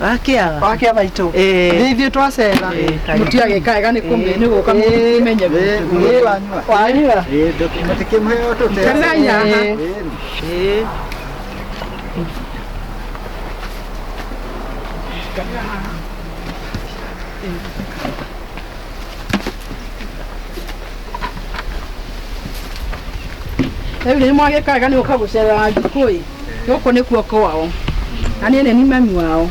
Akia. Wakia maitũ. Eh. Nĩ ithuĩ twacera. Mũtiage kaega nĩ kũmenya nĩ gũka mũmenye gwitũ. Wanyua. Kerai haha. Eh. Rĩu nĩ mwagĩka wega nĩ gũka gũcerera Wanjikũ ĩ. gũkũ nĩkuo kwao na niĩ nĩ ni mami wao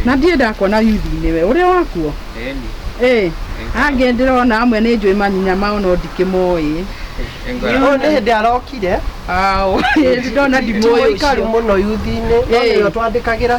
na ndirĩ ndakuona yuthinĩ we ũrĩa wakuo ĩ angĩ ndĩrona amwe nĩ njũĩ manyinya mao no ndikĩmoĩ Ũyũ nĩ hĩndĩ arokire. Aũ, ndona ndimũĩ Mũikaru ũcio. mũno yuthinĩ. No Ĩĩ. nĩo twandĩkagĩra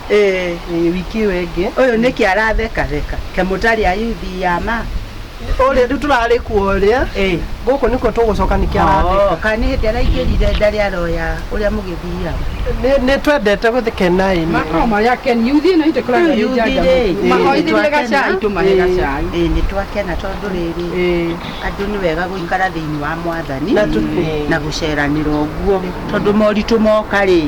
Eh, Eh, wiki ĩyo ĩngĩ ũyũ nĩ kĩ aratheka theka. Kemũtarĩ ayuthi ya ma. ũrĩa rĩu tũrarĩ kuo ũrĩa Eh. gũkũ nĩkuo tũgũcoka nĩkĩ Oh, aratheka kana nĩ hĩndĩ araingĩrire ndarĩ aroya ũrĩa mũgĩthiaga. Nĩ- nĩ twendete gũthikena ĩni Makao marĩa akeni. Yuthi ĩno itũ ĩkoragwo Rĩu ĩrĩ yuthi njanja rĩ, mũno. ĩ, Mahoithĩrie nĩtwakena. gacai tũmahe Ĩ, gacai. ĩ, nĩ twakena tondũ rĩrĩ Ĩĩ. andũ nĩ wega gũikara thĩinĩ wa mwathani Na tu- na gũceranĩra ũguo tondũ moritũ moka rĩ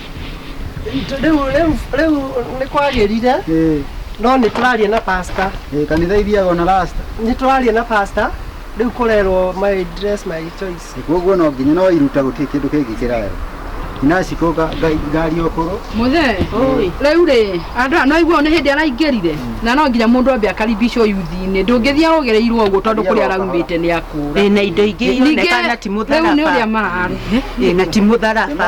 rĩu rĩu rĩu nĩ kwagĩrire Eh, no nĩ tũraria na pastor eh, kanitha ithiaga ona rasta nĩ tũraria na pastor rĩu kũrerwo my dress my choice koguo no nginya no iruta gũtirĩ kĩndũ kĩngĩ kĩrayo inacikũga ngari okũrũ mũthee rĩu rĩ andũ aya no aiguao nĩ hĩndĩ araingĩrire na no nginya mundu ambe akaribicwo yuthi-inĩ ndũngĩthiĩ ũgereirwo ũguo tondũ kũrĩa araumĩte nĩ akũra Ĩ, na indo ingĩ Ningĩ, ironeka na ti rĩu nĩ ũrĩa mũtharaba mararĩ Ĩ, na ti mũtharaba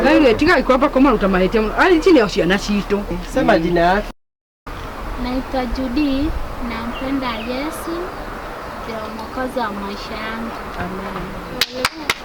Rĩu tigai kwamba kũmaruta mahĩtia mũno. Ai, ici nĩo ciana citũ Sema jina yake. Naitwa Judy, nampenda Yesu, ndio mwokozi wa maisha yangu. Amen.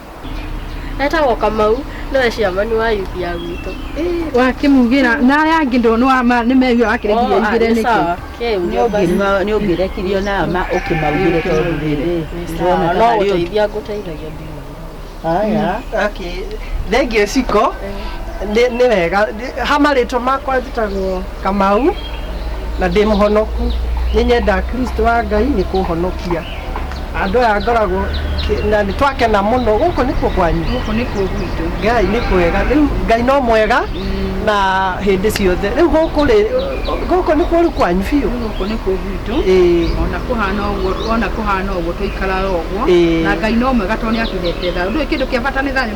Etagwo Kamau, nĩwe chairman wa youth ya gwitũ. wakĩmugĩra na aya angĩ ndonwa nĩ meigua wakĩrĩgirie igĩre nĩkĩ sawa, kĩu nĩ ũmba- nĩ ũngĩrekirio na ma ũkĩmaugire tondũ rĩrĩ ndĩrona ta no harĩ ũndũ gũteithia ngũteithagia ndiuma. haya Okay. Thengiũ ciko nĩ nĩ wega ha marĩtwa makwa njĩtagwo Kamau, na ndĩ mũhonoku. Nĩ nyendaga Kristo wa Ngai nĩ kũhonokia. Andũ aya ngoragwo na nĩ twakena mũno. Gũkũ nĩ kũ kwanyu? Gũkũ nĩ kũ gwitũ. Ngai nĩ kwega. Rĩu Ngai no mwega na hĩndĩ ciothe. Rĩu gũkũ rĩ, gũkũ nĩ kũru kwanyu biũ? Gũkũ nĩ kũ gwitũ. Ĩĩ. Ona kũhana ũguo, ona kũhana ũguo tũikaraga ũguo. Ĩĩ. Na Ngai no mwega tondũ nĩ atũhete thayũ. Ndũĩ kĩndũ kĩa bata nĩ thayũ?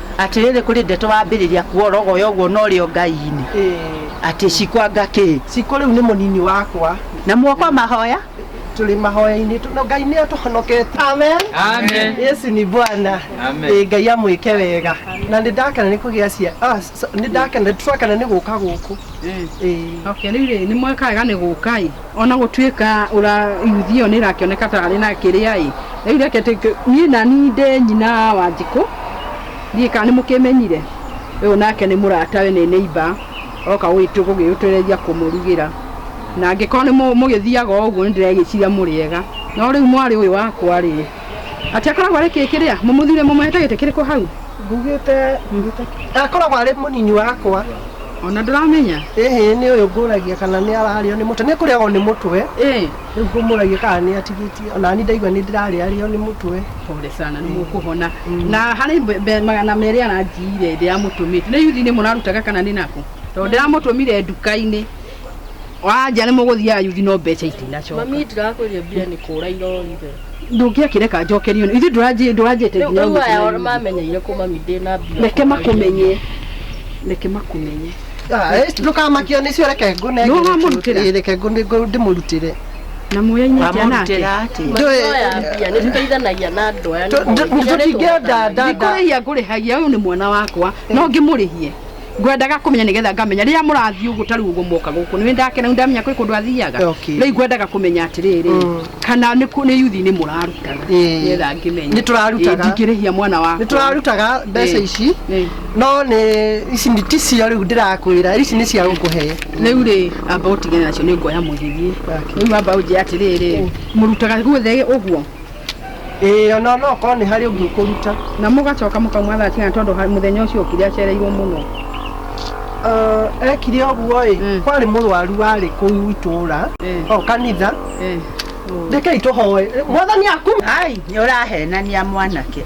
Atĩrĩrĩ, kũrĩ ndeto wambĩrĩria kuorogoya ũguo na ũrĩ o Ngai-inĩ, atĩ cikwanga kĩ? Cikũ rĩu nĩ mũnini wakwa. Na muokwa mahoya? Tũrĩ mahoya-inĩ, tondũ Ngai nĩ atũhonoketie. Amen. Amen. Yesu ni Bwana. Amen. Ĩ Ngai amwĩke wega. Na nĩ ndakena nĩ kũgĩa cia... Ah, so- nĩ ndakena, tũrakena nĩ gũka gũkũ. Ĩ. Okay, rĩu rĩ, nĩ mweka wega nĩ gũka-ĩ. Ona gũtuĩka ũra yuthi ĩyo nĩ ĩrakĩoneka ta arĩ na kĩrĩa-ĩ, rĩu reke tũ, niĩ nani ndĩ nyina wa Wanjikũ, ndiũĩ kana nĩ mũkĩmenyire, ũyũ nake nĩ mũratawe, nĩ neighbour, oka gwitũ gũgĩũtereria kũmũrugĩra, na angĩkorwo nĩ mũgĩthiaga o ũguo nĩ ndĩregĩciria mũrĩ ega, no rĩu mwarĩ ũyũ wakwa-rĩ, Ati akoragwo arĩ kĩĩ kĩrĩa? Mũmũthire mũmũhete gĩtĩ kĩrĩkũ hau? Ngugĩte akoragwo arĩ mũnini wakwa. Ona ndũramenya? Ĩhĩ nĩ ũyũ ngũragia kana nĩ ararĩo nĩ mũtwe. Nĩ kũrĩagwo nĩ mũtwe. Ĩĩ. Rĩu ngũmũragia kana nĩ atigĩtie. Ona ni ndaigua nĩ ndĩrarĩarĩo nĩ mũtwe. Pole sana nĩ mũkũhona. Na harĩ mbe- mbe- magana merĩ aranjiyire ndĩramũtũmĩte. Nĩ yuthi-inĩ mũrarutaga kana nĩ nakũ? Tondũ ndĩramũtũmire nduka-inĩ. wanja nä må gå thiaga yuthi no mbeca itinacoka mami ndirakwĩria mbia nĩ kũra irorire ndå ngä akä reka njokerio ithuä ndå ranjä te rĩu aya mamenyeire kũ mami ndĩ na mbia reke makũmenye reke makũmenye ndå kamakio nä cio reke ngå Nĩ ũramũrutĩra? nengä reke ngå ndä må rutä re na må yainä atä anake Ndũĩ- mbia nĩ tũteithanagia na andũ aya nĩ tå- tũ- nginya nĩ tũtingĩenda tũhotaga. ndanda ndikå rä hia ngå rä hagia å yå nä mwana wakwa no ngä må rä hie ngwendaga kumenya nigetha ngamenya riria murathii uguo ta riu uguo moka guku ni ndakena ni ndamenya kwi kundu athiaga Okay. riu ngwendaga kumenya atiriri Mm. kana ni ku- ni yuthi ni murarutaga Eh. nigetha ngimenye Nĩ tũrarutaga. ndingirihia mwana nä wakwa tå rarutaga mbeca Eh. ici Eh. no nä ici nĩ- ti cio rä u ndä rakwä ra ici nä cia gå kå he rĩu rĩ amba ũtigane nacio nĩ nguoya mũgĩthiĩ Okay. rĩu amba ũnjĩre atĩrĩrĩ mũrutaga guothe ũguo Ĩĩ ona no korwo nĩ harĩ ũngĩ ũkũruta. Na mũgacoka mũkamwa thaa cigana tondũ ha- mũthenya ũcio okire acereirwo mũno. Uh, ekire ũguo ĩ Mm. kwarĩ mũrwaru warĩ kũu itũra Mm. o kanitha Eh. Oh. rekei tũhoe mwathani aku Ai, nĩ ũrahenania mwanake.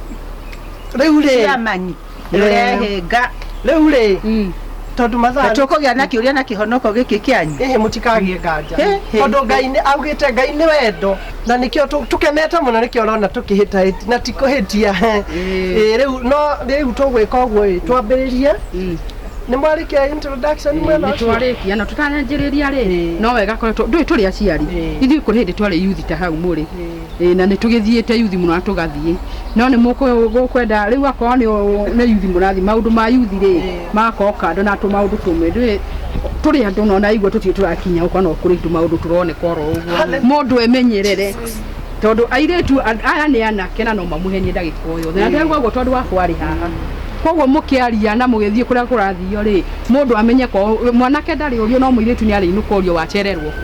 rĩu rĩ Ciamani. nĩũrehinga rĩu rĩ Mm. tondũ mathaa na tũkũgĩa na kĩũria na kĩhonoko gĩkĩ kĩanyu ĩhĩ mũtikagĩe nganja Hĩ, hĩ, tondũ hĩ. ngai nĩ augĩte ngai nĩ wendo na nĩkĩo tũ- tũkenete mũno nĩkĩo ũrona tũkĩhĩtahĩti na tikũhĩtia Ĩĩ. Ĩĩ, rĩu no rĩu tũgwĩka ũguo ĩ twambĩrĩrie Mm. nĩ mwarĩkia introduction mwena ũcio nĩtwarĩkia na tũtanyanjĩrĩria rĩ Ĩĩ. no wega koretwo ndũĩ tũrĩ aciari Ĩĩ. ithuĩ kũrĩ hĩndĩ twarĩ yuthi ta hau mũrĩ Ĩĩ na nĩ tũgĩthiĩte yuthi mũno na tũgathiĩ no nĩ mũkwenda rĩu akorwo nĩ yuthi mũrathiĩ maũndũ ma yuthi rĩ magakorwo kando na tũmaũndũ tũmwe ndũĩ tũrĩ andũ na ũraigua tũtirĩ tũrakinya gũkũ kana kũrĩ tũmaũndũ tũroneka oro ũguo mũndũ emenyerere tondũ airĩtu aya nĩ anake na no mamũhenie ndagĩka o yothe na ndĩrauga ũguo tondũ wakwa arĩ haha koguo mũkĩaria na mũgĩthiĩ kũrĩa kũrathio rĩ mũndũ amenye ko mwanake ndarĩ ũrio no mũirĩtu nĩ arĩinũka ũrio wacererwo kũ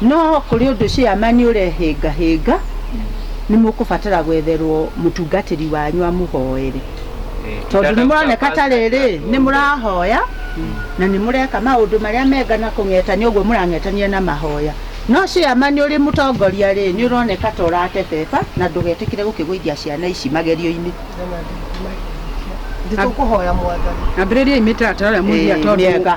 No kũrĩ ũndũ cĩama nĩ ũrehĩngahĩnga, nĩ mũkũbatara gwetherwo mũtungatĩri wanyu amũhoere. Tondũ nĩ mũroneka ta rĩrĩ nĩ mũrahoya na nĩ mũreka maũndũ marĩa mega na kũng'etania ũguo mũrang'etania na mahoya. No cĩama nĩ ũrĩ mũtongoria rĩ, nĩ ũroneka ta ũratebeba na ndũgetĩkĩre gũkĩgũithia ciana ici magerio-inĩ. Nditũkũhoya mwathani. Ambĩrĩriai mĩtaratara ĩrĩa mũngĩiga tondũ. Mĩega.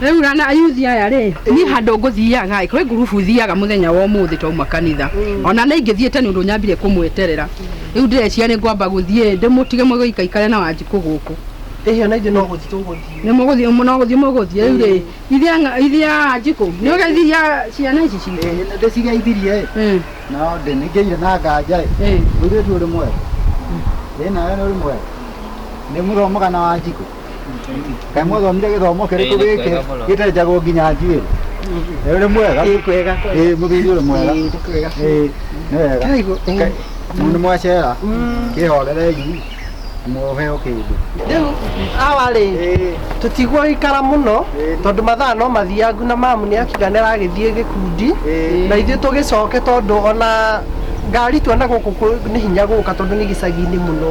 Rĩu na ayuthi aya rĩ niĩ handũ ngũthiaga kwĩ ngurubu thiaga mũthenya wa ũmũthĩ twauma kanitha ona nĩ ingĩthiĩte nĩ ũndũ nyambire kũmweterera rĩu ndĩreciria nĩ ngwamba gũthiĩ ndĩmũtige mũgĩikaikare na wanjikũ gũkũ ĩhĩ ona ithuĩ no gũthiĩ tũgũthiĩ nĩ mũgũthiĩ no gũthiĩ mũgũthiĩ rĩu rĩ ithe anga- ithe wanjikũ nĩ ũgeithia ciana ici citũ ĩhĩ nĩ ndĩcigeithirie ĩ Mm, no ndĩ nĩ ngĩire na nganja ĩ mm. mũirĩtu ũrĩ mwega ĩ nawe nĩ ũrĩ mwega nĩ mũthomoga na wanjikũ kamwe thomire githomo kiriku Ĩĩ, nĩ giki kwega mũno. gitari njago nginya njuiri uri mwega Ĩĩ, kwega, kwega. Ĩĩ, mũthuri uri mwega Ĩĩ, nĩ kwega. Ĩĩ, nĩ wega Karibu, ĩĩ. Ka- mundu mwacera kihorerei muheo kindu Rĩu awarĩ tũtigwo gĩikara mũno tondũ mathaa no mathiangu na mamu nĩ akiga nĩ aragĩthiĩ gĩkundi na ithuĩ tũgĩcoke tondũ ona ngari tuona gũkũ kũ- nĩ hinya gũka tondũ nĩ gĩcagi-inĩ mũno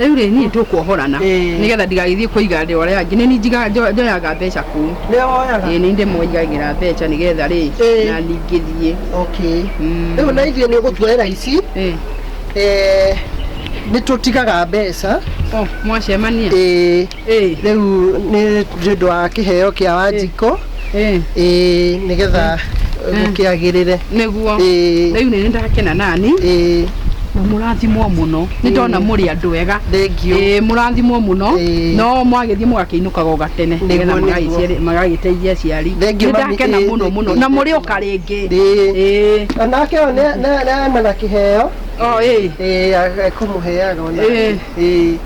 rĩu rĩ niĩ tũkuohorana Ĩĩ. nĩgetha ndigagĩthiĩ kũiga andũ arĩa angĩ nĩ niĩ njiga- njo- njoyaga mbeca kũu nĩwe woyaga ĩĩ nĩ ndĩmoigagĩra mbeca nĩgetha rĩ Ĩĩ. na ningĩthiĩ okay Mm. rĩu na ithuĩ nĩ ũgũtuoera ici Ĩĩ. eh, nĩ tũtigaga mbeca Oh, mwacemania ĩĩ Ĩĩ. rĩu nĩ nĩ ũndũ wa kĩheo kĩa wanjikũ Ĩĩ. ĩĩ nĩgetha gũkĩagĩrĩre Nĩguo. Ĩĩ. Rĩu nĩ ndakena nani. Ĩĩ. Na mũrathimwo mũno. Nĩ ndona mũrĩ andũ ega. Thengiũ. Ĩĩ mũrathimwo mũno. Ĩĩ. No mwagĩthiĩ mũgakĩinũkaga o gatene. Nĩguo, Nĩgetha nĩguo. magagĩciarĩ- magagĩteithia aciari. Thengiũ Nĩ mami, ndakena ĩĩ, mũno ĩĩ, mũno. ĩĩ, Na ĩĩ. mũrĩ oka rĩngĩ. Ĩĩ. Ĩĩ. Onake ũyũ nĩ- nĩ- nĩ ena na kĩheo O ĩĩ. ĩĩ akũmũheaga ona Ĩĩ. ĩĩ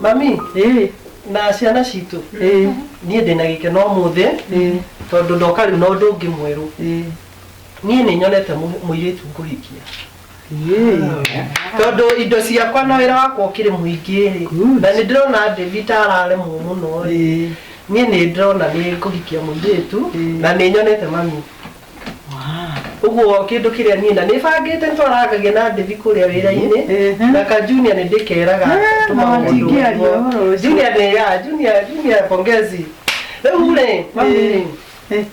mami ĩĩ na ciana citũ ĩĩ niĩ ndĩna gĩkeno mũthĩ ĩĩ tondũ ndoka rĩu na ũndũ ũngĩ mwerũ ĩĩ niĩ nĩ nyonete mũ- mũirĩtu ngũhikia ĩĩ tondũ indo ciakwa na wĩra wakwa ũkĩrĩ mũingĩ rĩ Good. na nĩ ndĩrona David ta araremwo mũno rĩ ĩĩ niĩ nĩ ndĩrona nĩ ngũhikia mũirĩtu Ĩĩ. na nĩ nyonete mami Ũguo kĩndũ kĩrĩa niĩ na nĩ bangĩte nĩ twarangagia na Ndĩvi kũrĩa wĩra-inĩ Ehe. na ka Junior nĩ ndĩkeraga Eh, tũma na mũndũ ndingĩaria ũguo. ũhoro ũcio. Junior nĩ ya Junior Junior pongezi rĩu rĩ mami rĩ Eh.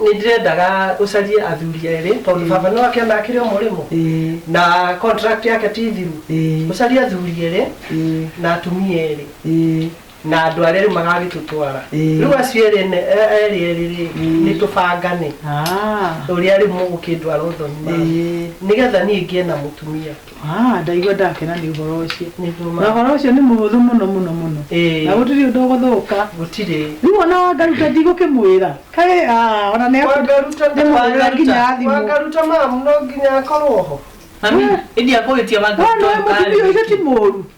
nĩ ndĩrendaga ũcarie athuri erĩ tondũ baba nĩ wake onakire mũrĩmo Eh. na contract yake ti thiru Eh. ũcarie athuri erĩ Eh. na atumia erĩ Eh. na andå arä a rä u magagä tå twara Ĩĩ. rä u acio erä ne- e- erĩ erĩ rä nä tå bangane Ah, å rä a rä u må gå kä ndwara å thoni ĩĩ. nä getha niä ngä na må tumia Ah, ndaigua ndakena nĩ ũhoro ũcio nä na ndå ũhoro ũcio nĩ mũhũthũ mũno mũno mũno na gũtirĩ ũndũ ũgũthũka gå tirä rĩu ona wangaruta ndigũkĩmwĩra kaĩ ah, ona nĩ wangaruta Nĩ mũhũrĩre nginya ya thimũ. wangaruta mamu no nginya akorwo ho Mami, ĩndĩ akũgĩtia wanga Wee nĩ mũtumia ũcio ti mũru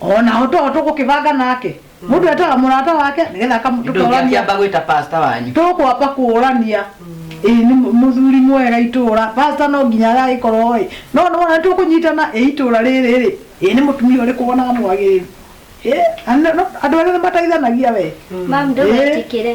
o nao to tũgũkĩbanga nake mũndũ etaga mũrata wake nĩgetha Nĩ ndũngĩ akamũtũkorania akĩamba gwĩta pasta wanyu tũkwamba kũũrania ĩĩ nĩ mũ- mũthuri mwega itũũra pasta no nginya agagĩkorwo ĩ no nĩ wona tũkũnyitana ĩ itũũra rĩrĩ rĩ ĩ nĩ mũtumia ũrĩkũ wonaga mwagĩrĩru Ĩ, na nĩ- no- andũ erĩ nĩ mateithanagia we Mam, ndũgetĩkĩre.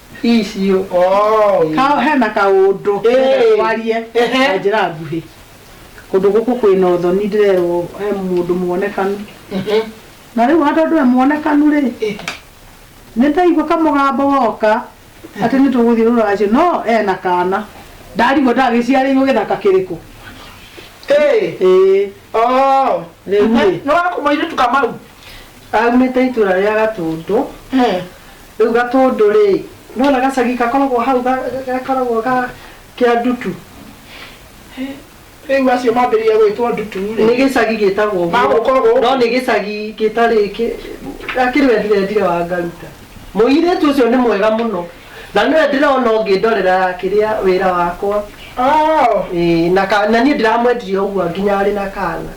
icio oh. Kao hena kaũndũ Ĩĩ. ndĩrenda twarie Ehe. na njĩra nguhĩ. Kũndũ gũkũ kwĩna ũthoni ndĩrerwo he mũndũ muonekanu. Mhm. Na rĩu ona tondũ e muonekanu rĩ, Ĩĩ. nĩndaigua kamũgambo goka atĩ nĩtũgũthiĩ rũracio no ena kana. Ndarigwo ndagĩciarĩirwo gĩthaka kĩrĩkũ. Ĩĩ. Ĩĩ. Oh. Rĩu rĩ. Nĩ wa kũmoirĩtu kamau Aumĩte itũra rĩa Gatũndũ. Ĩĩ. Rĩu gatũndũ rĩ, nĩwona gacagi gakoragwo hau gakoragwo ga kĩa ndutu? Rĩu acio mambĩrĩria gwĩtwo ndutu rĩ? Nĩ gĩcagi gĩtagwo ũguo. Magũkorwo ũguo. No nĩ gĩcagi gĩtarĩ kĩ, gakĩrĩ wendire ndire wa ngaruta. Mũirĩtu ũcio nĩ mwega mũno. Na nĩwe ndĩrona ũngĩndorera kĩrĩa wĩra wakwa. Ĩĩ na ka, na niĩ ndiramwendirie o ũguo nginya arĩ na kana.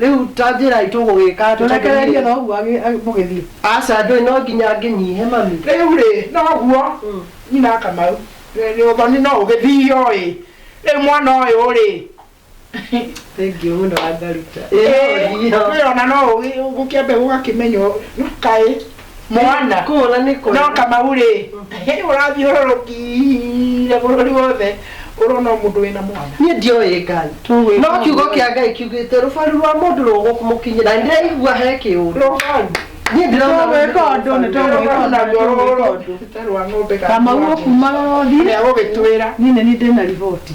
Rĩu ta njĩrai tũgũgĩka atĩa? Tũrekererie noguo agĩ- agĩ- mũgĩthiĩ. Aca ndũĩ no nginya ngĩnyihe mami. Rĩu rĩ, noguo nyina Kamau, nĩ nĩ ũthoni no ũgĩthio ĩ, rĩu mwana ũyũ rĩ, Thank you mũno Wangaruta. Ĩ, Ĩĩ no thiĩ. nĩwĩrona no ũgĩ- gũkĩambe gũgakĩmenywo kaĩ. mwana Kũhũra nĩ kwega. no kamau rĩ hĩndĩ ũrathiũrũrũkire bũrũri wothe ũrona o mũndũ wĩna mwana niä ndioä ngai Tũgwĩka no kiugo ũguo. kä a ngai kiugä te rå baru rwa må ndå rå gå må kinyä na ndä raigua he kä å ndå rũbaru niä ndä rona Nĩtũgwĩka ũndũ, nĩtũgwĩka ũndũ, nĩtũgwĩka ũndũ. rwa ng'ombe Kamau ũkumagara ũthiĩ. Nĩ agũgĩtwĩra. Niĩ nĩ niĩ ndĩna riboti.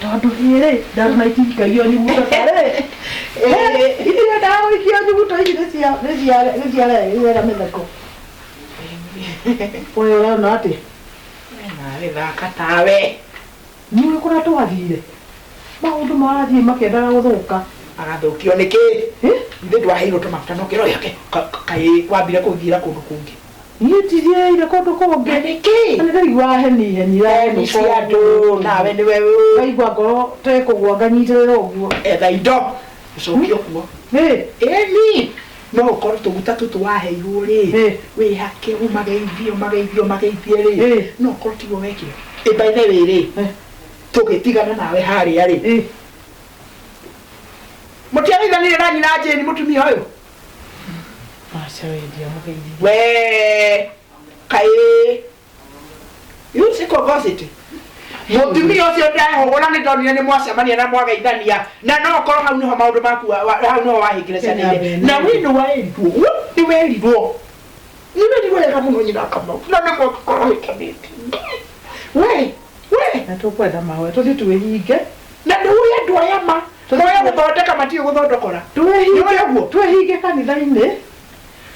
Tondũ hĩrĩ, ndawa na itingĩkagia nyuguto ta rĩ. Itire ndawa ikia nyuguto ici nĩ cia nĩ cia nĩ cia rĩ, nĩ cia mĩtheko. Ũyũ ũrona atĩ Narĩ thaka tawe. nĩũĩ kũrĩa twathire. Maũndũ marathiĩ makĩendaga gũthũka. Agathũkio nĩkĩ? Hĩ? Ithe ndwaheirwo tũmaguta na ũkĩra ũyũ ake ka- ka- kaĩ wambire kũthiĩra kũndũ kũngĩ. Niĩ njithiĩire kũndũ kũngĩ. Na nĩkĩ? Na nĩndaigua heni heni ya Heni mũnungo cia andũ, ũngĩ. nawe nĩwe wĩ. Ngaigua ngoro ta ĩkũgwa nganyitĩrĩra ũguo. Etha indo ũcoke o kuo. Ĩ! Ĩni! No ũkorwo tũguta tũtũ waheirwo rĩ, Ĩ! wĩhake ũmageithie ũmageithie ũmageithie rĩ, Ĩ! no ũkorwo tiguo wekire. Ĩ by the way rĩ, Ĩ! tũgĩtigana nawe harĩa rĩ, Ĩ! mũtiageithanire na nyina Jane mũtumia ũyũ? Aca we ndiamũgeithia. we kaĩ you see conversity mũtumia ũcio ndehũgũra nĩ ndonire nĩ mwacemania na mwageithania na no korwo hau nĩho maũndũ maku wa- wa- hau nĩho wahĩngĩrecanĩire na wĩ nĩ werirwo guo nĩ werirwo nĩ werirwo wega mũno nyina kamau na nĩ mwakĩkorwo hĩtanĩtie we we na tũkwenda mahoya tũthiĩ twĩhinge na ndũĩ andũ aya ma moya gũthondeka matiĩ gũthondokora nĩũĩ ũguo twĩhinge kanitha-inĩ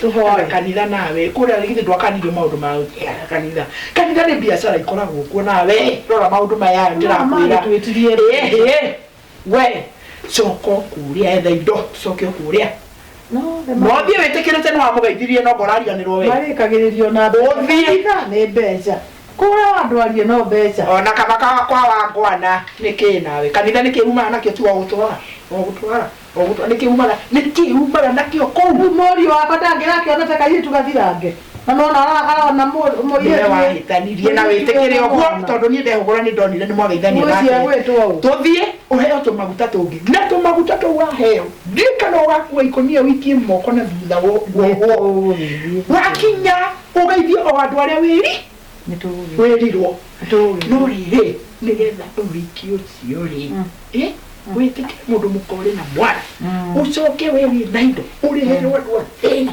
tũhoe kanitha nawe kũrĩa githĩ ndwakanirio maũndũ ma gũthiaga kanitha kanitha nĩ biacara ikoragwo kuo nawe rora maũndũ maya ndĩrakwĩra Mama, nĩtwĩtirie. Ĩhĩ. we coka ũkũrĩa etha indo coke ũkũrĩa No, nĩ ma- mwambie wĩtĩkĩrĩte nĩ wamũgeithirie no ngorariganĩrwo we marĩkagĩrĩrio na mbeca. Ũthiĩ. Kanitha nĩ mbeca kũrĩa andũ arie no mbeca ona kaba ka- kwa wangwana nĩ kĩ nawe kanitha nĩ kĩumaga nakĩo tu ogũtwara ogũtwara ogũtwara nĩ kĩumaga nĩ kĩumaga nakĩo kũu rĩu mũriũ wakwa ndangĩrakĩona ta kairĩtu gathirange na no na ara- arona mũ- nĩwe mũirĩtu wahĩtanirie na wĩtĩkĩre ũguo tondũ niĩ ndehũgũra nĩ ndonire nĩ mwageithania Mũciĩ nake gwĩtwo ũ? tũthiĩ ũheo tũmaguta tũngĩ na tũmaguta tũu waheo ndiũĩ kana ũgakua ikũnia ũikie moko na thutha wo- woguo wakinya ũgeithie o andũ arĩa wĩri wĩrirwo no rĩrĩ nĩgetha ũhiki ũcio rĩ ĩ, wĩtĩkĩre mũndũ mũkore na mwana ũcoke we wĩ na indo ũrĩhĩrwo andũ a thĩna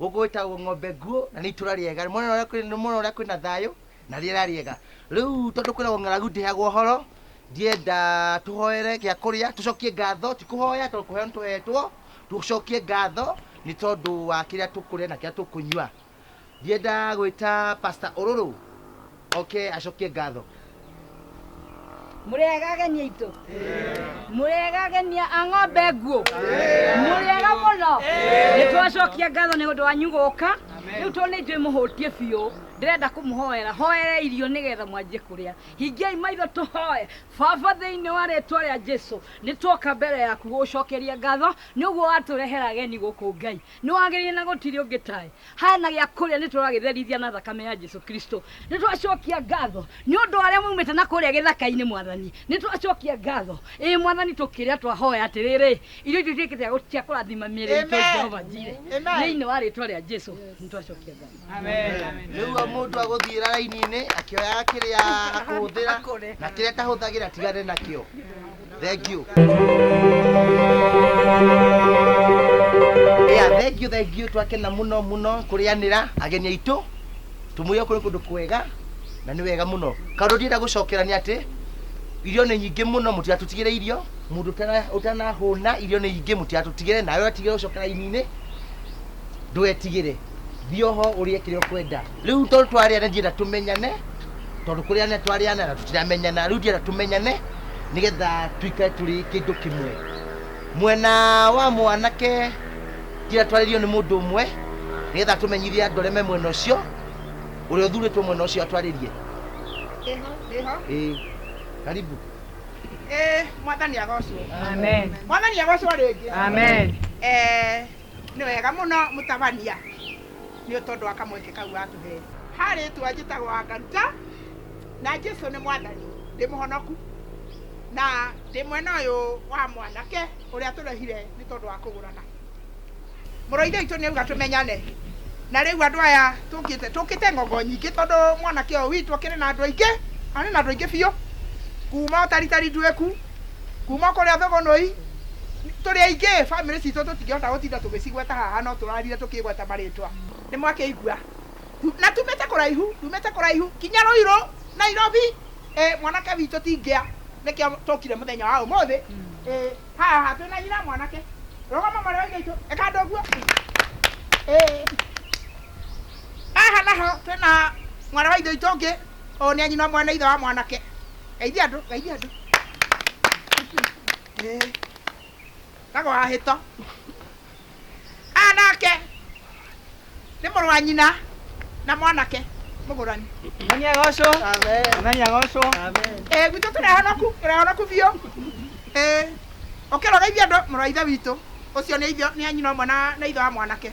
Gũkũ gwĩtagwo ng'ombe nguũ na nĩ itũra rĩega. Nĩ mwona ũrĩa kwĩ- nĩ mwona ũrĩa kwĩna thayũ na rĩera rĩega. Rĩu tondũ kwĩragwo ng'aragu ndĩheagwo ũhoro, ndienda tũhoere gĩa kũrĩa, tũcokie ngatho, ti kũhoya tondũ kũheo nĩ tũhetwo, tũcokie ngatho nĩ tondũ wa kĩrĩa tũkũrĩa na kĩrĩa tũkũnyua. Ndienda gwĩta Pastor Ũrũrũ oke acokie ngatho mũrĩega ageni aitũ mũrĩega ageni a ng'ombe nguũ mũrĩega mũno nĩ twacokia ngatho nĩ ũndũ wanyu gũka rĩu tondũ nĩ njũĩ mũhũtie biũ ndĩrenda kũmũhoera hoere irio nĩgetha mwanjie kũrĩa hingiai maitho tũhoe baba thĩinĩ wa rĩtwa rĩa jesu nĩ twoka mbere yaku gũgũcokeria ngatho nĩ ũguo watũrehera ageni gũkũ ngai Nĩwagĩrĩire na gũtirĩ ũngĩ tae. Haya na gĩa kũrĩa nĩtũragĩtherithia na thakame ya Jesu Kristo. Nĩtwacokia ngatho nĩ ũndũ wa arĩa maumĩte na kũrĩa gĩthaka-inĩ, Mwathani. Nĩtwacokia ngatho, ĩĩ, Mwathani, tũkĩrĩa twahoya atĩrĩrĩ, irio icio ituĩke cia gũ- cia kũrathima mĩĩrĩ itũ, Amen. Jehova Jireh. Amen. Thĩinĩ wa rĩĩtwa rĩa Jesu nĩtwacokia ngatho. rĩu o mũndũ agũthiĩra raini-inĩ akĩoyaga kĩrĩa akũhũthĩra na kĩrĩa atahũthagĩra atigane nakĩo Thank you. Yeah, thank you, thank you. Twakena muno muno kurianira ageni aitũ. Tumuye kũrĩ kũndũ kwega na nĩ wega mũno. Kaũndũ ndienda gũcokera nĩ atĩ irio nĩ nyingĩ mũno mũtigatũtigĩre irio mũndũ ũtana- ũtanahũna irio nĩ nyingĩ mũtigatũtigĩre nawe watigĩre gũcokera ini-inĩ ndwetigĩre thio ho urie kire ukwenda riu tondu twari ana ndienda tumenyane tondu kuri ana twari ana na tutiramenyana riu ndienda tumenyane nigetha tuikare turi kindu kimwe mwena wa mwanake ndienda twaririo ni mundu umwe nigetha tumenyithie andu aria me mwena ucio uria uthuritwo mwena ucio atwaririe Ndiho, ndiho. Ĩĩ. karibu Eh, mwathani agocwo. Amen. Mwathani agocwo rĩngĩ. Amen. Eh, Nĩ wega mũno mũtabania nĩ tondũ wa kamweke kau watũhe. Ha rĩtwa njĩtagwo Anga Ruta, na Jesu nĩ mwathani, ndĩ mũhonoku, na ndĩ mwena ũyũ wa mwanake ũrĩa tũrehire nĩ tondũ wa kũgũrana. Mũrũ wa Ithe witũ nĩ auga tũmenyane, na rĩu andũ aya tũkĩte, tũkĩte ng'ongo nyingĩ tondũ mwanake ũyũ witũ akĩrĩ na andũ aingĩ, na nĩ na andũ aingĩ biũ, kuma o Taritari Nduĩku, kuma kũrĩa thũgũnũi tũrĩ aingĩ bamĩrĩ citũ tũtingĩhota gũtinda tũgĩcigweta haha no tũrarire tũkĩgweta marĩtwa nĩ mwakĩigua na tumĩte kũraihu tumĩte kũraihu kinya rũirũ nairobi ĩ mwanake witũ ti ngĩa nĩkĩo tũkire mũthenya wa ũmũthĩ ĩ haha twĩna nyina mwanake rũgama mwarĩ wa ithe witũ ĩka andũ ũguo ĩ haha naho twĩna mwarĩ wa ithe witũ ũngĩ ũyũ nĩ anyina ũmwe na ithe wa mwanake Geithia andũ, geithia andũ. Eh, Kago wa hĩto. Aya nake nĩ mũrũ wa nyina na mwanake mũgũrani. Mwathani agocwo. Amen. Mwathani agocwo. Amen. Eh, gwitũ tũrehonoku, tũrehonoku biũ. Eh, ũkĩrora ithe andũ mũrũ wa ithe witũ. Ũcio nĩ ithe nĩ nyina ũmwe na na ithe wa mwanake.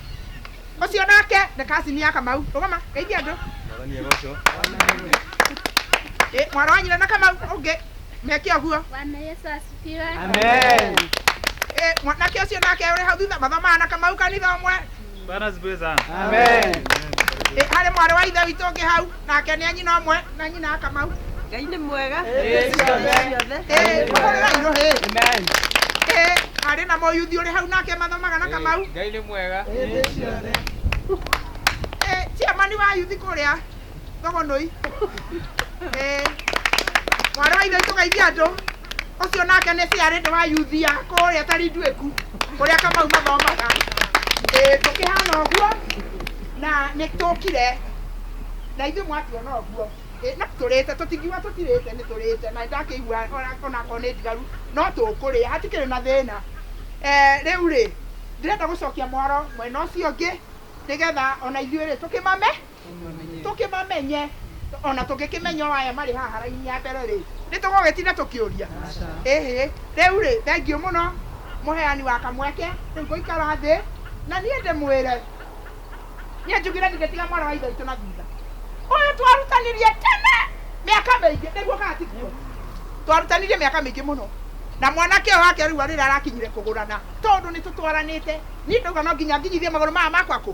ũcio nake nĩ kacini ya kamau rũgama geithia andũ Ĩ, mwana wa nyina na kamau ũngĩ meke ũguo Bwana Yesu asifiwe. Amen. Ĩ, mwanake ũcio nake ũrĩ hau thutha mathomaga na kamau kanitha ũmwe Bwana asifiwe sana. Amen. Ĩ, harĩ mwarĩ wa ithe witũ ũngĩ hau nake nĩ anyina ũmwe na nyina akamau ngai nĩ mwega Hĩndĩ ciothe. Ĩĩ, kũrĩra irũ hĩ. Ĩĩ, harĩ na mũyuthi ũrĩ hau nake mathomaga na kamau ngai nĩ mwega Hĩndĩ ciothe. Ĩĩ, ciamani wa yuthi kũrĩa thogonoi Ĩĩ, mwarĩ wa ithe tũgeithia andũ ũcio nake nĩ ciarĩte wa yuthi ya kũrĩa tari nduĩku kũrĩa kamau mathomaga Ĩĩ, tũkĩhana ũguo na nĩ tũkire na ithuĩ mwatuona ũguo Ĩĩ, no tũrĩte tũtingiuga tũtirĩte nĩ tũrĩte na ndakĩigua ona- onakorwo nĩ ndigaru no tũkũrĩa hatikĩrĩ na thĩna Eh, rĩu rĩ ndĩrenda gũcokia mwaro mwena ũcio ũngĩ nĩgetha ona ithuĩ rĩ tũkĩmame tũkĩmamenye ona tũngĩkĩmenya o aya marĩ haha raini ya mbere rĩ nĩ tũgũgĩtinda tũkĩũria ĩhĩ rĩu rĩ thengiũ mũno mũheani wa kamweke rĩu gũikara thĩ na niĩ ndĩmwĩre niĩ njugire ndingĩtiga mwana wa ithe witũ na thutha ũyũ twarutanirie tene mĩaka mĩingĩ nĩguo kana tiguo twarutanirie mĩaka mĩingĩ mũno na mwanake ũyũ wake rĩu arĩra arakinyire kũgũrana tondũ nĩ tũtwaranĩte niĩ ndauga no nginya nginyithie magũrũ maya makwa kũ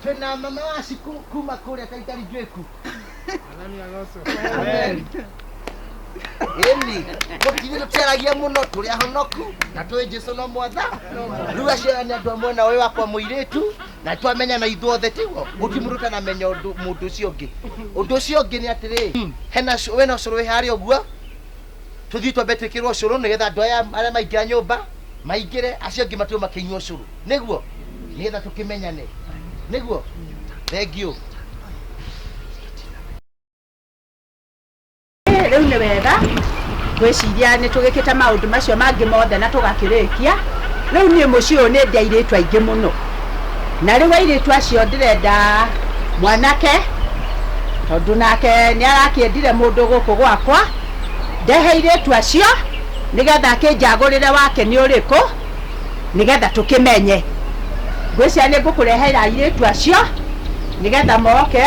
Twĩna mama wa ciku kuma kũrĩa Kaitaringĩku. Amen. Ĩni, gũtirĩ tũtiaragia mũno tũrĩ ahonoku na tũĩ Jesu no mwatha. Rĩu acio nĩ andũ a mwena ũyũ wakwa mũirĩtu na twamenyana ithuothe tiguo gũtirĩ mũndũ ũtanamenya ũndũ mũndũ ũcio ũngĩ. Ũndũ ũcio ũngĩ nĩ atĩrĩ, hena wĩna ũcũrũ wĩ harĩa ũguo tũthiĩ twambe twĩkĩrwo ũcũrũ nĩgetha andũ aya arĩa maingĩra nyũmba maingĩre acio angĩ matirwo makĩnyua ũcũrũ nĩguo nĩgetha tũkĩmenyane nĩguo thengiũ rĩu nĩ wega gwĩciria nĩ tũgĩkĩte maũndũ macio mangĩ mothe na tũgakĩrĩkia rĩu niĩ mũciĩ ũyũ nĩ ndĩ airĩtu aingĩ mũno na rĩu airĩtu acio ndĩrenda mwanake tondũ nake nĩ arakĩendire mũndũ gũkũ gwakwa ndehe airĩtu acio nĩgetha akĩnjagũrĩre wake nĩ ũrĩkũ nĩgetha tũkĩmenye ngwĩcia nĩ ngũkũrehera airĩtu acio nĩgetha moke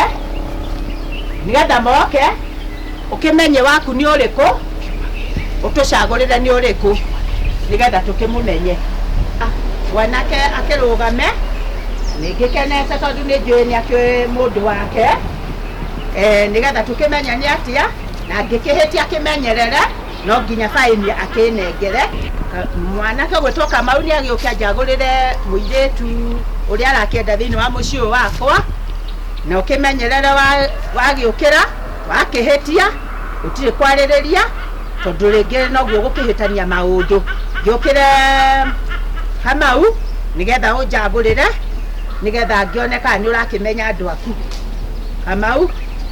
nĩgetha moke ũkĩmenye waku nĩ ũrĩkũ ũtũcagũrĩre nĩ ũrĩkũ nĩgetha tũkĩmũmenye Ah, mwanake akĩrũgame nĩngĩkenete tondũ nĩ njũĩ nĩ akĩũĩ mũndũ wake Eh, nĩgetha tũkĩmenye nĩ atĩa na ngĩkĩhĩtia kĩmenyerere no nginya baĩnia akĩnengere. Mwanake ũgwĩtwo Kamau nĩ agĩũke anjagũrĩre mũirĩtu ũrĩa arakĩenda thĩinĩ wa mũciĩ ũyũ wakwa, na ũkĩmenyerere wagĩũkĩra wakĩhĩtia gũtirĩ kwarĩrĩria tondũ rĩngĩ noguo ũgũkĩhĩtania maũndũ. Ngĩũkĩre Kamau nĩgetha ũnjagũrĩre nĩgetha ngĩone kana nĩ ũrakĩmenya andũ aku. Kamau.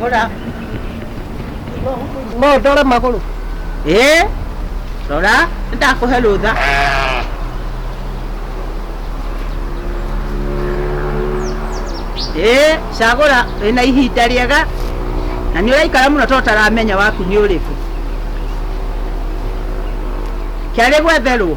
Rora. No ndore magũrũ. Eh? Rora, ndakũhe rũtha. Eh, cagũra wĩna ihinda rĩega na nĩ ũraikara mũno tondũ taramenya waku nĩ ũrĩkũ. Kĩarĩ gwetherwo.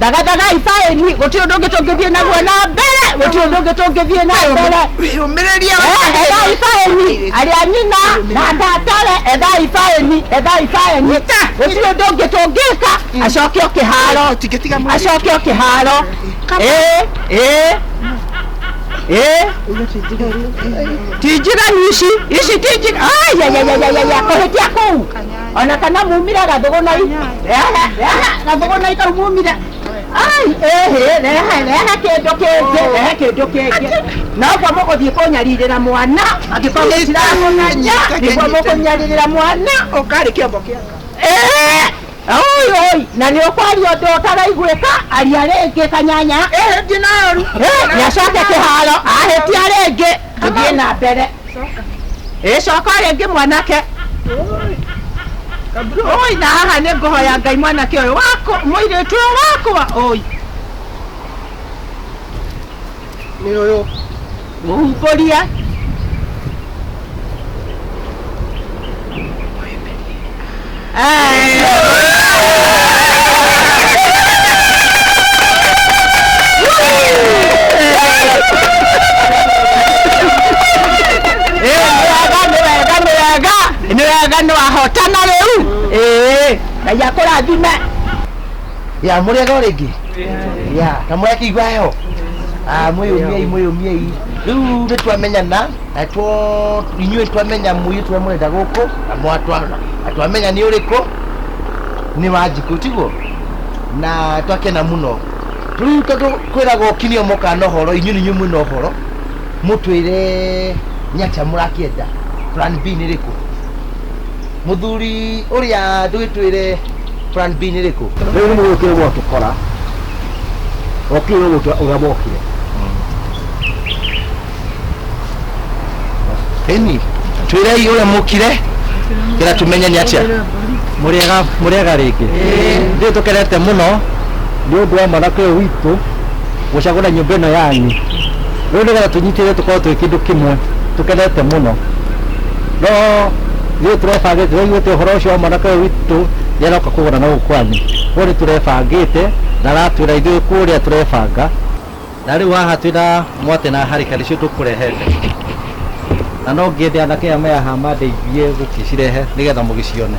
thagathagai baĩni gũtirĩ ũndũ ũngĩ tũngĩthiĩ naguo na mbere gũtirĩ ũndũ ũngĩ tũngĩthiĩ na mbere yumĩrĩria ethai baĩni arĩa nyina na ndatare ethai baĩni ethai baĩni gũtirĩ ũndũ ũngĩ tũngĩka acoke o kĩharo tingĩtiga mwĩrĩ acoke o kĩharo ĩĩ ĩĩ ĩĩ tinjiganu ici ici tinjiganu kũhĩtia kũu ona kana mumire gathũgũnai gathũgũnai kau mumire ai ĩhĩ rehe rehe kĩndũ kĩngĩ rehe kĩndũ kĩngĩ noguo mũgũthiĩ kũnyarirĩra mwana angĩkorwo mũtiramũmenya nĩguo mũkũnyarirĩra mwana ũkarĩ kĩombo kĩa Ngai. Oi, oi, na nä å kwaria å ndå å taraiguä ka aria rä ngä kanyanya nä acoke kä haro ahä tia rä ngä tũthiĩ na mbere ĩ coka rĩngĩ mwanake oi na haha nĩ ngũhoya ngai mwanake ũyũ wakwa mũirĩtu ũyũ wakwa oi nĩ ũyũ mũhumbũrie nĩwega nĩwahotana rĩu ngai akũrathime ya mũrĩega o rĩngĩ ya na mũrekeigua heho mwĩyũmiei mwĩyũmiei rĩu nĩtwamenyana natwo inyuĩ twamenya mũirĩtu ũrĩa mũrenda gũkũ na mwatwana na twamenya nĩ ũrĩkũ nĩ wa njikũ tiguo na twakena mũno rĩu tondũ kwĩraga ũkinio moka na ũhoro inyuĩ nĩ inyuĩ mwĩna ũhoro mũtwĩre nĩ atĩa mũrakĩenda plan b nĩ rĩkũ mũthuri ũrĩa ndũgĩtwĩre plan b nĩ rĩkũ rĩu nĩmũgũkire mwatũkora okire ũrĩa mokire Eni, twirei uria mukire gira tumenye ni atia muriega muriega rĩngĩ ithuĩ tũkenete mũno nĩ ũndũ wa mwanake ũyũ witũ gũcagũra nyũmba ĩno yanyu rĩu nĩgetha tũnyitĩrĩre tũkorwo twĩ kĩndũ kĩmwe tũkenete mũno no rĩu tũrebangĩte rĩu ĩte ũhoro ũcio wa mwanake ũyũ witũ nĩ aroka kũgũra na gũkũ kwanyu rĩu nĩ tũrebangĩte na aratwĩra ithuĩ kũrĩa tũrebanga Na rĩu haha twĩ na mwatĩ na harika nĩcio tũkũrehete, na no ngĩende anake aya me haha mandeithie gũgĩcirehe nĩgetha mũgĩcione.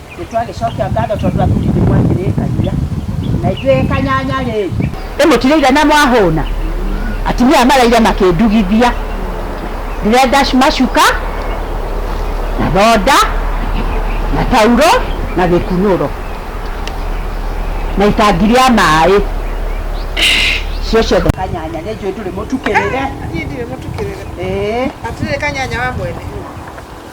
Nĩ twagĩcokia ngatho tondũ wa kũrigwo nĩ mwakĩrĩkania. Na ithuĩ kanyanya rĩ. Ĩ mũtirĩire na mwahũna? Atumia maraire makĩndugithia. Ndĩrenda macuka, na thonda, na tauro, na gĩkunũro, na itangi rĩa maĩ. Icio ciothe kanyanya nĩ njũĩ ndũrĩ mũtukĩrĩre. Niĩ ndirĩ mũtukĩrĩre. Ĩĩ. Atĩrĩrĩ kanyanya wa mwene.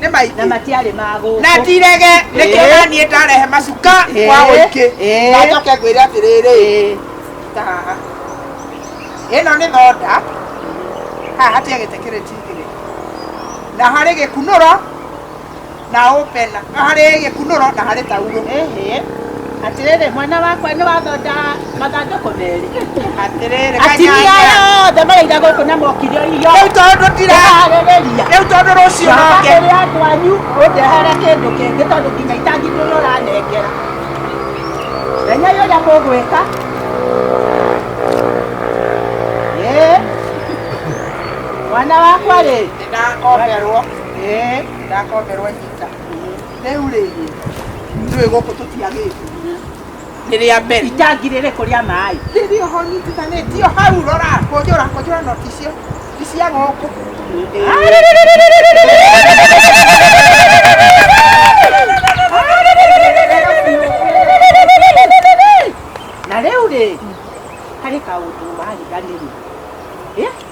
nĩ maingĩ na matiarĩ ma gũkũ na tirege nĩkĩo na niĩ ndarehe macuka kwa ũingĩ na njoke ngwĩre atĩrĩrĩ ta haha ĩno nĩ thonda haha hatia gĩtĩ kĩrĩ tigĩrĩ na harĩ gĩkunũro na ũpena harĩ gĩkunũro na harĩ tauro Atĩrĩrĩ, mwana wakwa nĩ wathonda mathandũkũ merĩ. Atĩrĩrĩ, Atumia yothe maraira gũkũ na mokire irio. Rĩu tondũ ndira harĩrĩria. Rĩu tondũ rũciũ noke. Coka kũrĩ andũ anyu ũndehere kĩndũ kĩngĩ tondũ nginya itangi ndũrĩ ũranengera. Menyai ũrĩa mũgwĩka. Ĩĩ. Mwana wakwa rĩ. Nĩndakomberwo. Ĩĩ. Nĩndakomberwo ihinda. Rĩu rĩ, njũĩ gũkũ tũtiagĩte. Nĩ rĩa mbere. Itangi rĩrĩkũ rĩa maĩ? Rĩrĩ oho nyitithanĩtio hau rora, kũnjũra kũnjũra no ti cio, ti cia gũkũ. Na rĩu rĩ, harĩ kaũndũ wariganĩrwo.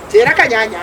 Njĩra kanyanya.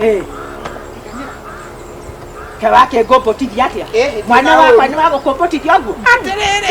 Eh. kewake ngũmbũtithia atĩa mwana wakwa nĩ wagũkũmbũtithia ũguo atĩrĩrĩ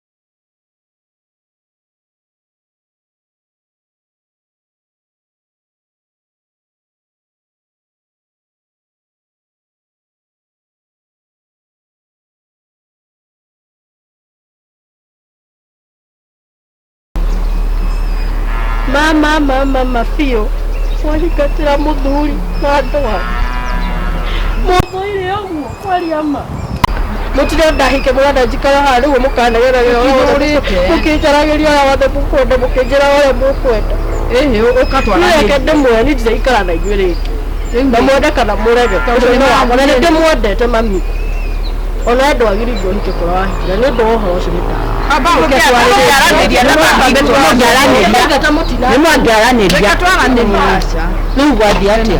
mama mama mabiũ mwahingatĩra mũthuri na ndwa mũthũire ũguo kwaria ma mutire ndahike mwana njikara haha niguo mukanegera wira uria wothe mukinjaragiria uria wothe mukwenda mukinjira uria mukwenda ehe ukatwara reke ndimwe ni ndiraikara na inyuĩ rĩngĩ na mwende kana mũrege ũcio nĩ wakwa na nĩ ndĩmwendete mami ona we ndwagĩrĩirwo ũhike kũra wahikire nĩ ũndũ wa ũhoro ũcio nĩmangĩaranĩria rĩu gwathiĩ atĩa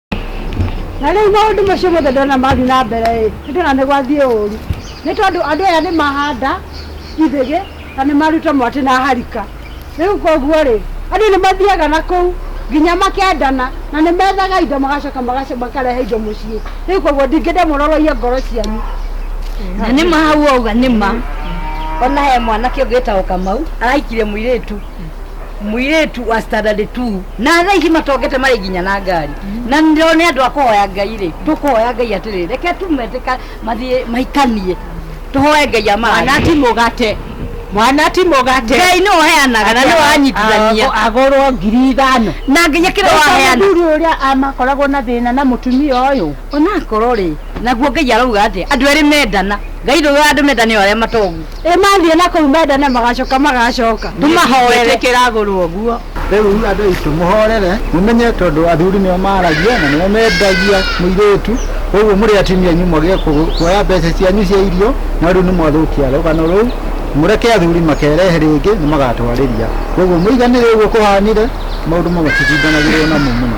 na rĩu maũndũ macio mothe ndona mathiĩ na mbere ĩ nĩ ndona nĩ gwathiĩ ũru nĩ tondũ andũ aya nĩ mahanda ithĩgĩ na nĩ maruta mwatĩ na harika rĩu koguo rĩ andũ nĩ mathiaga na kũu nginya makendana na nĩ methaga indo magacoka magac- makarehe indo mũciĩ rĩu koguo ndingĩenda mũroroie ngoro cianyu na nĩ mahau auga nĩ ma ona he mwanake ũngĩ wĩtagwo kamau arahikire mũirĩtu mũirĩtu wa standard 2 na thaa ici matongete marĩ nginya na ngari na ndio nĩ andũ a kũhoya ngai rĩ tũkũhoya ngai atĩrĩ reke tumetĩka mathiĩ maikanie tũhoe ngai amana mwana ti mũgate mwana ti mũgate ngai nĩ ũheanaga kana nĩ wanyitithania Agũ- agũrwo ngiri ithano na nginya kĩrĩa waheana mũthuri ũrĩa amakoragwo na thĩna na mũtumia ũyũ onakorwo rĩ naguo ngai arauga atĩ andũ erĩ mendana ngai ndauga andũ mendana nĩ arĩa matongu ĩ mathiĩ na kũu mendane magacoka magacoka tũmahoere Twĩtĩkĩra agũrwo guo. rĩu andũ aitũ mũhorere mũmenye tondũ athuri nĩo maragia na nĩo mendagia mũirĩtu koguo mũrĩ atumia anyu mwage kũ- kuoya mbeca cianyu cia irio no rĩu nĩ mwathũkia rũgano rũu mũreke athuri makerehe rĩngĩ nĩ magatwarĩria koguo mũiganĩre ũguo kũhanire maũndũ mamwe titindanagĩrwo namo mũno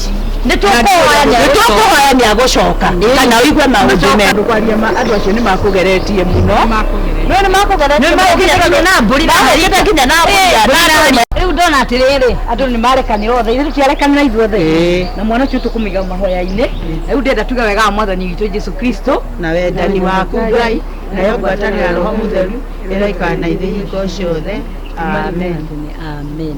nä tå kåhoya nä tũkũhoya nĩ agũcoka kana ũigue maũndũ me andå kwaria ma andå acio nä makå geretie må no no nä makå geretie nginya na mbũri na hagĩte nginya na mbũri ya ndũrĩrĩ. rä u ndona atä rä rä andå nä marekane othe ithuä tiarekanä ithuothe na mwana å cio tå kå mä mahoya-inä rä u ndenda tuge wega wa mwathani witå jesu kristo na wendani waku ngai nayo ngwatanĩra roho mũtheru ĩroikara na ithuĩ hingo ciothe amen amen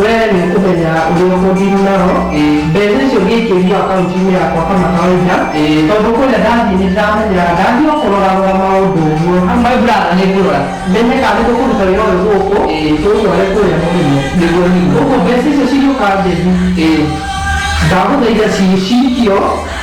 Wee nĩ ũkũmenya ũrĩa ũkũndiru nao. Mbeca icio ngĩikĩrio akaunti-inĩ yakwa kama kawaida. Tondũ kũrĩa ndathiĩ nĩ ndĩramenya ndathiĩ o kũrora rora maũndũ ũguo. My brother nĩ ngũrora. Menye kana nĩ tũkũruta wĩra ũyũ gũkũ, tũũtware kũrĩa mũrĩmo. Nĩguo nĩguo. Ũguo mbeca icio cigĩũka njethi, ndagũthaitha ciciikio.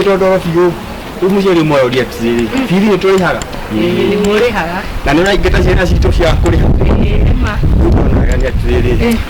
ndondoro biũ rĩu mũciari ũmwe oria atĩrĩrĩ bithi nĩ tũrĩhaga nĩ mũrĩhaga na nĩ ũraingata ciana citũ cia kũrĩha nĩ ma rĩu ndonagania atĩrĩrĩ